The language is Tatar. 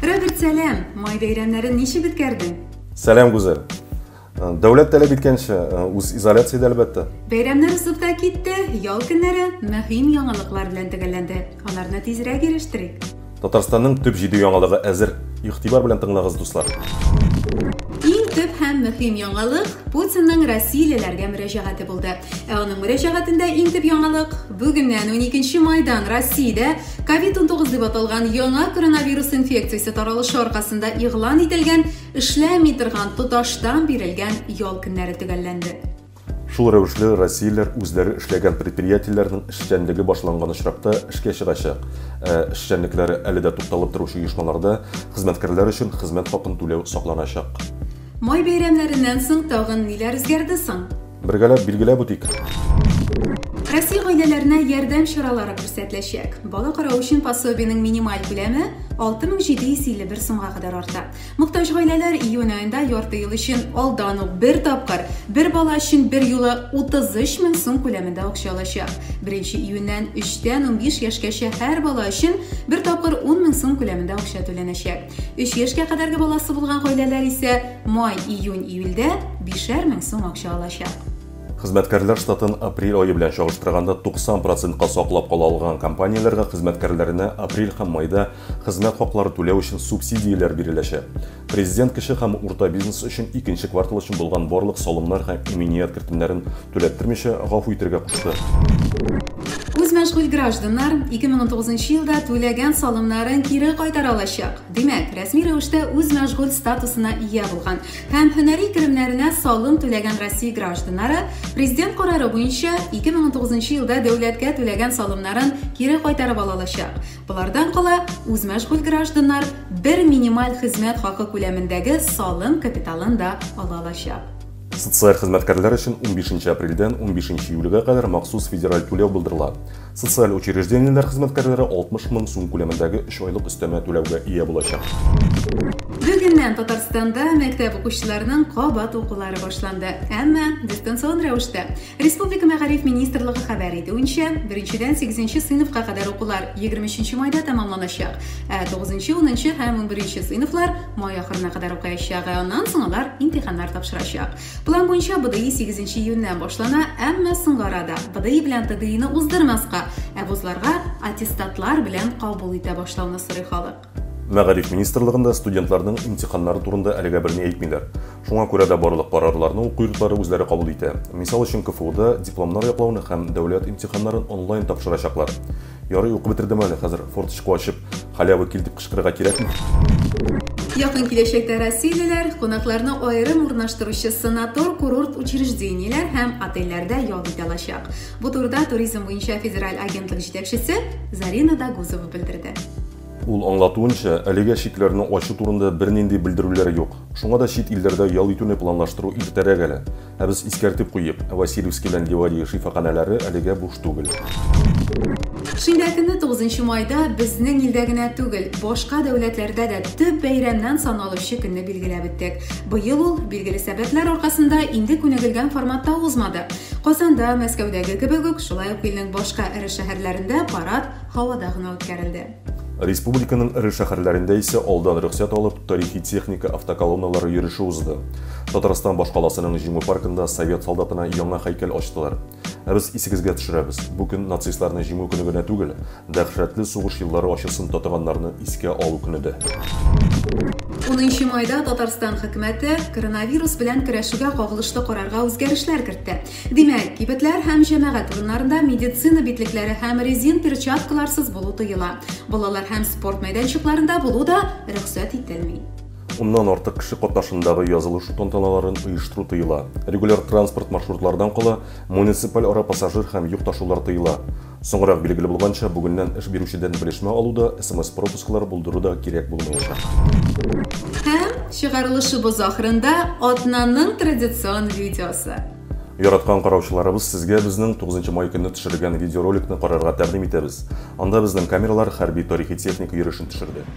Роберт, сәлам! Май бәйрәмнәрен ничек үткәрдең? Сәлам, Гүзәл. Э, дәүләт таләп иткәнчә, э, үз изоляциядә әлбәттә. Бәйрәмнәр узып та китте, ял көннәре мөһим яңалыклар белән төгәлләнде. Аларны тизрәк ирештерик. Татарстанның төп җиде яңалыгы әзер. Игътибар белән тыңлагыз, дуслар. Иң төп һәм мөһим яңалык Путинның россиялеләргә мөрәҗәгате булды. Ә аның мөрәҗәгатендә иң төп яңалык бүгеннән 12 майдан Россиядә COVID-19 дип аталган яңа коронавирус инфекциясе таралышы аркасында игълан ителгән эшләми торган тоташтан бирелгән ял көннәре төгәлләнде. Шул рәвешле россияләр үзләре эшләгән предприятиеләрнең эшчәнлеге башланган очракта эшкә чыгачак. Ә эшчәнлекләре әле дә тукталып торучы оешмаларда хезмәткәрләр өчен хезмәт хакын түләү сакланачак. Май бәйрәмнәреннән соң тагын ниләр үзгәрде соң? Бергәләп билгеләп үтик. Россия гаиләләренә ярдәм чаралары күрсәтеләчәк. Бала карау өчен пособиенең минималь күләме 6751 сумга кадәр арта. Мохтаҗ гаиләләр июнь аенда ярты ел өчен алдан ук бер тапкыр, бер бала өчен бер юлы 33 мең сум күләмендә акча алачак. Беренче июньнән 3 тән 15 яшькәчә һәр бала өчен бер тапкыр 10 мең сум күләмендә акча түләнәчәк. 3 яшькә кадәрге баласы булган гаиләләр исә май, июнь, июльдә бишәр мең сум акча алачак. Хезмәткәрләр штатын апрель ае белән чагыштырганда 90 процентка саклап кала алган компанияләргә хезмәткәрләренә апрель һәм майда Хезмәт хаклары түләү өчен субсидияләр биреләчәк. Президент кече һәм урта бизнес өчен икенче квартал өчен булган барлык салымнар һәм иминият кертемнәрен түләттермичә гафу итәргә кушты. Үзмәшгуль гражданнар 2019 елда түләгән салымнарын кире кайтара алачак. Димәк, рәсми рәвештә үзмәшгуль статусына ия булган һәм һөнәри керемнәренә салым түләгән Россия гражданнары президент карары буенча 2019 елда дәүләткә түләгән салымнарын кире кайтарып ала алачак. Болардан кала, үзмәшгуль гражданнар бер минималь хезмәт хакы күләмендәге салым капиталын да ала алачак. Социаль хезмәткәрләр өчен 15 апрельдән 15 июльгә кадәр махсус федераль түләү булдырыла. Социаль учреждениеләр хезмәткәрләре 60 мең сум күләмендәге 3 айлык өстәмә түләүгә ия булачак. Бүгеннән Татарстанда мәктәп укучыларының кабат укулары башланды, әмма дистанцион рәвештә. Республика мәгариф министрлыгы хәбәр итүенчә, беренчедән сигезенче сыйныфка кадәр укулар егерме өченче майда тәмамланачак, ә тугызынчы, унынчы һәм унберенче сыйныфлар май ахырына кадәр укыячак, ә аннан соң алар имтиханнар тапшырачак. План буенча БДИ сигезенче июньнән башлана, әмма соңгы арада БДИ белән ТДИны уздырмаска, ә вузларга аттестатлар белән кабул итә башлауны сорый халык. Мәгариф министрлыгында студентларның имтиханнары турында әлегә берни әйтмиләр. Шуңа күрә дә барлык карарларны уку йортлары үзләре кабул итә. Мисал өчен, КФУда дипломнар яклауны һәм дәүләт имтиханнарын онлайн тапшырачаклар. Ярый, укып бетердем әле, хәзер форточку ачып, халява кил дип кычкырырга кирәкме? Якын киләчәктә россиялеләр кунакларны аерым урнаштыручы санатор-курорт учреждениеләр һәм отельләрдә ял итә алачак. Бу турыда туризм буенча федераль агентлык җитәкчесе Зарина Дагузова белдерде. Ул аңлатуынча, әлегә чикләрне ачу турында бернинди белдерүләр юк. Шуңа да чит илләрдә ял итүне планлаштыру иртәрәк әле. Ә без искәртеп куйыйк, Васильевский белән Ливадия шифаханәләре әлегә буш түгел. Шимбә көнне, 9 нчы майда, безнең илдә генә түгел, башка дәүләтләрдә дә төп бәйрәмнән саналучы көнне билгеләп үттек. Быел ул, билгеле сәбәпләр аркасында, инде күнегелгән форматта узмады. Казанда, Мәскәүдәге кебек үк, шулай ук илнең башка эре шәһәрләрендә парад һавада гына үткәрелде. Республиканың эре шәһәрләрендә исә алдан рөхсәт алып, тарихи техника автоколонналары йөреше узды. Татарстан башкаласының Җиңү паркында совет солдатына яңа һәйкәл ачтылар. Ә без исегезгә төшерәбез, бу көн нацистларны Җиңү көне генә түгел, Дәһшәтле сугыш еллары ачысын татыганнарны искә алу көне дә. Унынчы майда Татарстан хөкүмәте коронавирус белән көрәшүгә кагылышлы карарга үзгәрешләр кертте. Димәк, кибетләр һәм җәмәгать урыннарында медицина битлекләре һәм резин перчаткаларсыз булу тыела. Балалар һәм спорт мәйданчыкларында булу да рөхсәт ителми. Уннан артык кеше катнашындагы язылышу тантаналарын оештыру тыела. Регуляр транспорт маршрутлардан кала, муниципаль ара пассажир һәм йөк ташулар тыела. Соңрак билгеле булганча, бүгеннән эш бирүчедән белешмә алу да, смс-пропусклар булдыру да кирәк булмаячак. Һәм чыгарылышыбыз ахырында атнаның традицион видеосы. Яраткан караучыларыбыз, сезгә безнең 9 май көнне төшерелгән видеороликны карарга тәкъдим итәбез. Анда безнең камералар хәрби тарихи техника йөрешен төшерде.